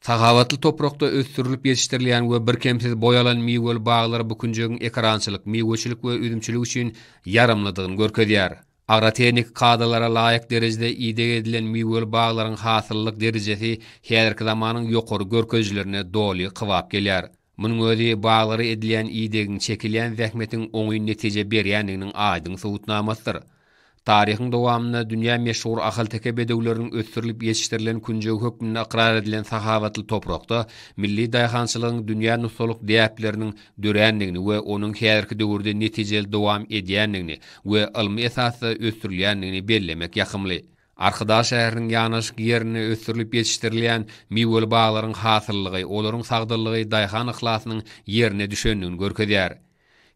Sahawatly toprakda ösdürilip ýetişdirilýän we birkemsiz boý alan miweli baglar bu künjegiň ekerançylyk, miweçilik we üzümçilik üçin ýaramlydygyny görkezýär. Agrotehniki kadalara laýyk derejede ideg edilen miweli baglaryň hasyllylyk derejesi häzirki zamanyň ýokary görkezijilerine doly kybap gelýär. Munuň özi baglara edilýän idegiň, çekilýän zähmetiň oňyn netije berýändiginiň aýdyň subutnamasydyr. Taryhyň dowamynda dünýä meşhur ahalteke bedewleriniň ösdürilip ýetişdirilen künjegi hökmünde ykrar edilen sahawatly toprakda milli daýhançylygyň dünýä nusgalyk däpleriniň dörändigini we onuň häzirki döwürde netijeli dowam edýändigini we ylmy esasda ösdürilýändigini bellemek ýakymly. Arkadag şäheriniň ýanaşyk ýerinde ösdürilip ýetişdirilýän miweli baglaryň hasyllygy, olaryň sagdynlygy daýhan yhlasynyň ýerine düşendigini görkezýär.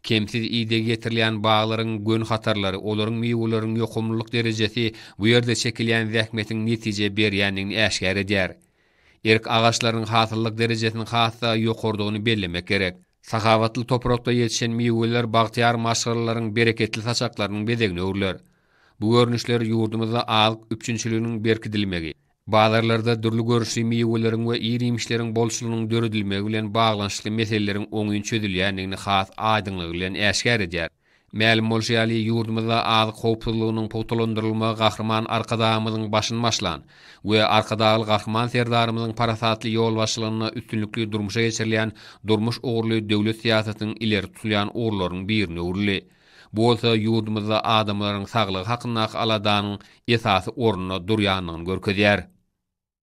Kemsiz ideg ýetirilýän baglaryň gön hatarlary, olaryň miweleriň ýokumlylyk derejesi bu ýerde çekilýän zähmetiň netije berýändigini äşgär edýär. Erk agaçlarynyň hasyllyk derejesiniň has-da ýokarydygyny bellemek gerek. Sahawatly toprakda ýetişen miweler bagtyýar maşgalalaryň bereketli saçaklarynyň bezegine öwrüler. Bu görnüşler ýurdumyzda azyk üpjünçiliginiň berkidilmegi, bazarlarda dürli görnüşli miweleriň we ir-iýmişleriň bolçulygynyň döredilmegi bilen baglanyşykly meseleleriň oňyn çözülýändigini has aýdyňlygy bilen äşgär edýär. Mälim bolşy ýaly, ýurdumyzda azyk howpsuzlygynyň pugtalandyrylmagy Gahryman Arkadagymyzyň başyny başlan we Arkadagly Gahryman Serdarymyzyň parasatly ýolbaşçylygynda üstünlikli durmuşa geçirilýän durmuş ugurly döwlet syýasatynyň ileri tutulýan ugurlarynyň birine öwrüldi. Bu bolsa ýurdumyzda adamlaryň saglygy hakyndaky aladanyň esasy orunda durýandygyny görkezýär.